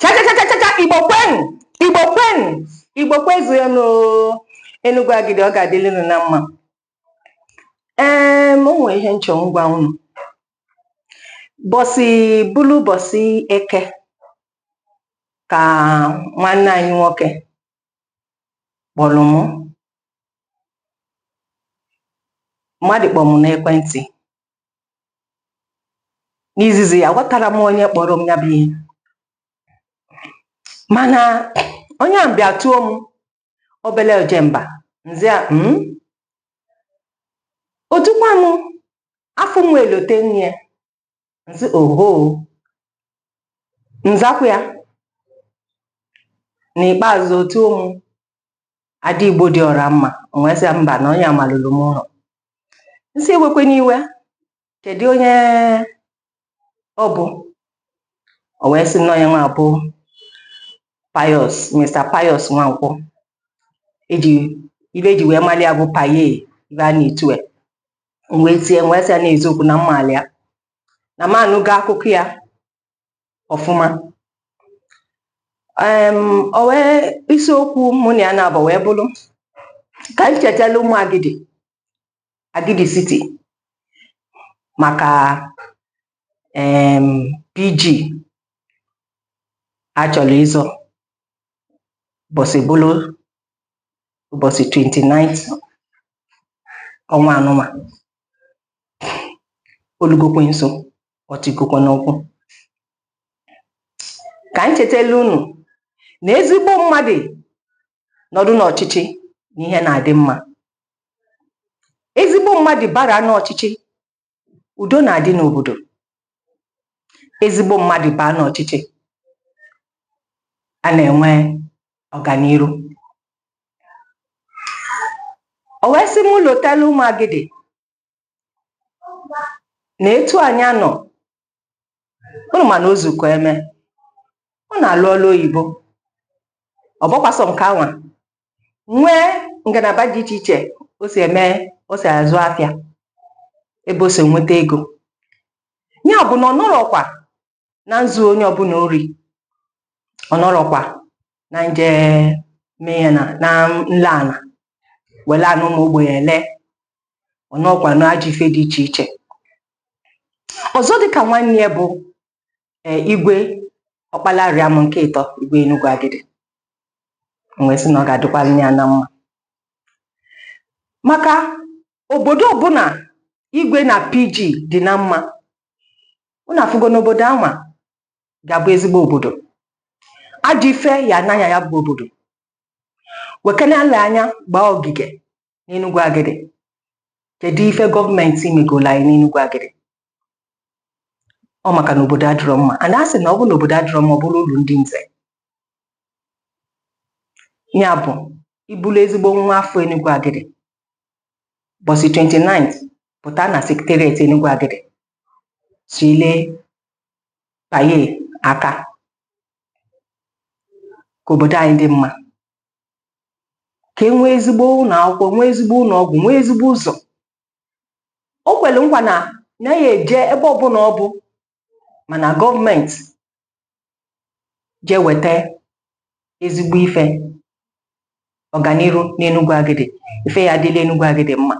chachachachacha igbo kwenu igbo kwenu igbo kwezuenu enugwu agidi ọ ga-adịli unu na mma ee m nwee ihe m chọ m gwa unu bọsị bụlụ bọsị eke ka nwanne anyị nwoke kpọlụ m mmadụ kpọ m n'ekwentị n'izizi aghọtarọ m onye kpọrọ m ya bụ ihe mana onye ahụ bịa tuo m obele ojemba m za ya mm, o tukwa m afụ nwa elote nne ya m sị oho m zakwa ya n'ikpeazụ o tuo m ada igbo dị ọra mma m wee sị mba na onye a malulu m ụlọ m sị ewekwene iwe kedu onye ọ bụ o wee sị na onye nwa bụ pius mr pius nwankwọ e ji ife e ji wee mali ya bụ paye ife a na-etu ya m wee tie m wee sị ya n'eziokwu na m malị ya na m anụgo akụkọ ya ọfụma o wee isiokwu mụ na ya naabọ wee bụrụ ka m chetala ụmụ agidi agidi city maka pg a chọrọ ịzọ ụbọsị bụlụ ụbọsị 29th ọnwa nụnwa o lugokwe nso o tigokwa n'ụkwụ ka anyị chetala unu na ezigbo mmadụ nọdụ n'ọchịchị na ihe na-adị mma ezigbo mmadụ bara n'ọchịchị udo na-adị n'obodo ezigbo mmadụ baa n'ọchịchị a na-enwe ọganiru o wee sị m lotala ụmụ agidi na etu anyị a nọ unu ma na o zukọ eme ọ na-alụ ọlụ oyibo ọ bụkwa sọ nke anwa nwee ngalaba dị iche iche o si eme o si azụ afịa ebe o si enweta ego ya bụ na ọ nọrọkwa na nzu onye ọbụna ori ọ nọrọkwa na nje mee ya na na nle ana wele ana ụmụ ogbenye ele ọ nọkwa na ajọ ife dị iche iche ọzọ dịka nwanne ya bụ e, igwe ọkpalarịam nke ịtọ igwe enugwu agidi wee sị na ọ ga-adịkwanụ ya na mma maka obodo ọbụna igwe na pg dị na mma unu afụgo na obodo anwa ga-abụ ezigbo obodo ajọ ife ya-ana na ya bụ obodo wekene ala anya gbaa ogige n'enugwu agidi kedu ife gọọmenti megolu anyị n'enugwu agidi ọ maka na obodo adịrọ mma a na-asị na ọ bụ na obodo adịrọ mma ọ bụrụ ulu ndị nze ya bụ ị bụlụ ezigbo nwa afọ enugwu agidi bọsị 29 pụta na secretariat enugwu agidi sile paye aka ka obodo anyị dị mma ka e nwee ezigbo ụnọ akwụkwọ nwee ezigbo ụnọ ọgwụ nwee ezigbo ụzọ o kwelu nkwa na nya ya-eje ebe ọbụla ọ bụ ma na gọọmenti jee weta ezigbo ife ọganiru n'Enugwu Agidi ife ya-adịlị Enugwu Agidi mma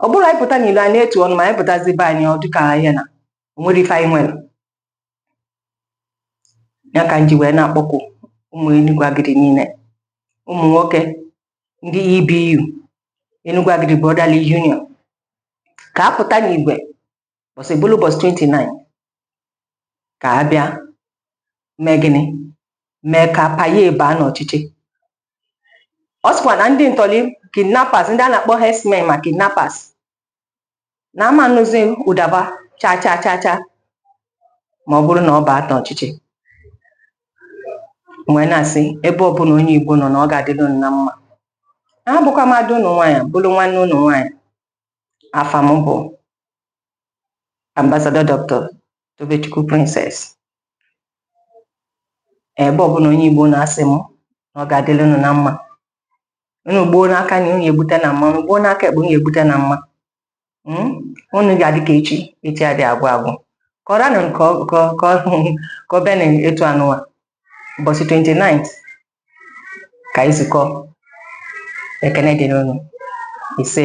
ọ bụrụ anyị pụta n'ilo a na-etu ọnụ ma anyị pụtazi be anyị ọ dịka ihe na o nwerọ ife anyị nwere ya ka m ji wee na-akpọku ụmụ Enugwu Agidi niile ụmụ nwoke ndị EBU Enugwu Agidi Brotherly Union ka a pụta n'igwe bọsị bụrụ ụbọchị 29 ka a bịa mee gịnị mee ka paye baa n'ọchịchị ọ sịkwa na ndị ntọrị kidnappers ndị a na-akpọ herdsmen ma kidnappers na a ma nụzi ụda fa cha cha cha cha ma ọ bụrụ na ọ baa n'ọchịchị m wee na-asị ebe ọbụla onye igbo nọ na ọ ga-adịrị unu na mma abụkwa mmadụ ụnụ nwaanyị bụrụ nwanne ụnụ nwaanyị afa m bụ Ambassador Doctor Tobechukwu Princess ebe ọbụla onye Igbo nọ asị m na ọ ga-adịrị unu na mma unu gbuo n'aka nni unu egbute na mma unu gbuo n'aka ekpe unu egbute na mma hmm? unu ga-adị ka echi echi adị agwụ agwụ ka ọ ranụ ka o be n'etu anụwa bọsị 29 ka anyị zukọ ekene dịrị unu ise